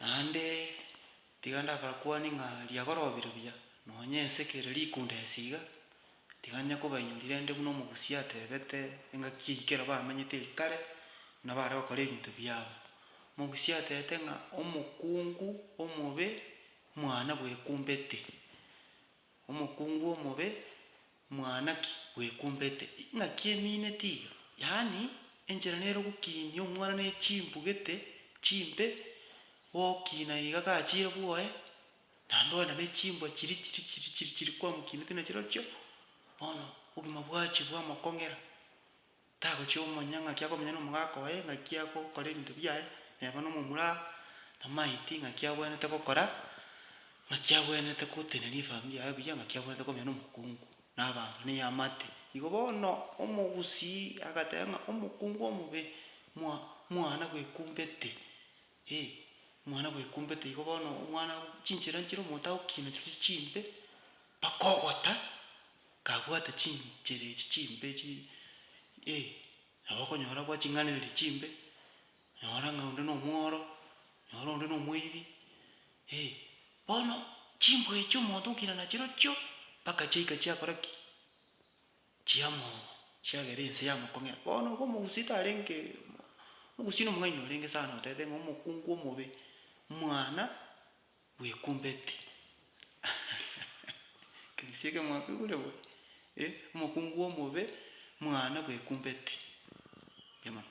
Naende tiga ndabarakwanie ng'a riagora obire buya, nonya ense kere rikunda esi iga, tiga nyakobainyorire ende buna omogusi atebete engaki eyio kera bamenyete erio kare, na bare gokora ebinto biabo. Omogusi atebete ng'a omokungu omobe mwana bwekumbete, omokungu omobe Mwana ki bwekumbete? Ing'aki emine tiga, yaani, enchera nere ogokiinia omwana ne chimbu gete chimbe, gokiina iga gachiire bwoye, naende ogenda ne chimbwa chiri chiri chiri chiri chiri kwamokiineti na chirochio, bono obogima bwachia bwamokong'era. Tagochia komanya ng'aki akomenya n'omogaka oye, ng'aki agokora ebinto biaye neba nomomura na maiti, ng'aki abwenerete gokora, ng'aki abwenerete gotenenia efamiri yaye buya, ng'aki abwenerete komenya nomokungu na abanto na eamate. Igo bono omogusii agateba ng'a omokungu omobe mwa mwana bwekumbete, eh, mwana bwekumbete. Igo bono omwana chinchera nchire omonto agokina chirochio chimbe mpaka ogota. Kabwate chinchera echi chimbe chi eh, nabo okonyora bwaching'anereria chimbe, nyora ng'a onde nomworo, nyora onde nomoibi eh, bono chimbwa echi omonto okina nachirochio mpaka chiaika chiakora ki? Chiamo chiagera ense yamokong'era. Bono igo omogusii tarenge omogusii nomong'aini orenge sana otebete ng'a omokungu omobe mwana bwekumbeti ekeresia eke mwakegure bwe eh omokungu omobe mwana bwekumbeti mbuya mono.